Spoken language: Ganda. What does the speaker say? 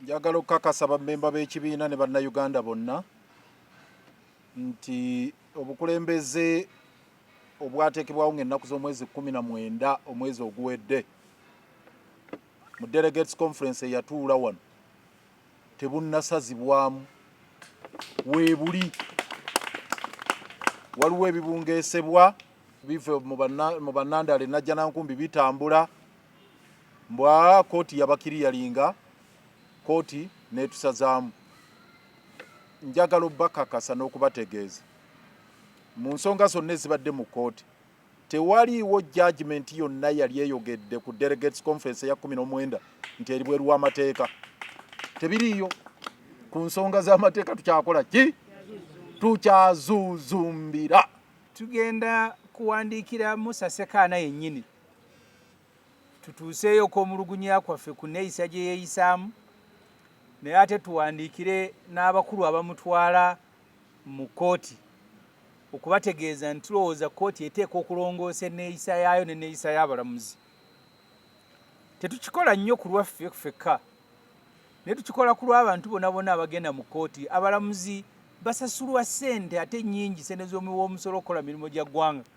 Njagala okukakasa bammemba b'ekibiina ne Bannayuganda bonna nti obukulembeze obwateekebwawo ng'ennaku z'omwezi kkumi na mwenda omwezi oguwedde mu Delegates Conference eyatuula wano tebunnasazibwamu weebuli waliwo ebibungeesebwa bive mu bannandale najja nankumbi bitambula Mbu aa kooti yabakiriyalinga kooti netusazaamu. Njagala obakakasa nokubategeeza mu nsonga zonna ezibadde mu kooti tewaliiwo judgement yonna yali eyogedde ku delegates conference eya kumi nomwenda nti eribweru wamateeka. Tebiriiyo ku nsonga zamateeka tukyakola ki? Tukyazuzumbira. Tugenda kuwandiikira Musa Ssekaana yennyini. tutuuseeyo okw'omulugunya kwaffe ku neeyisa gye yeeyisaamu naye ate tuwandiikire n'abakulu abamutwala mu kkooti okubategeeza nti tulowooza kkooti eteeka okulongoosa enneeyisa yaayo n'enneeyisa y'abalamuzi tetukikola nnyo ku lwaffe ffekka naye tukikola ku lw'abantu bona bona abagenda mu kkooti abalamuzi basasulwa ssente ate nnyingi ssente z'omuwa omusolo okukola mirimu gya ggwanga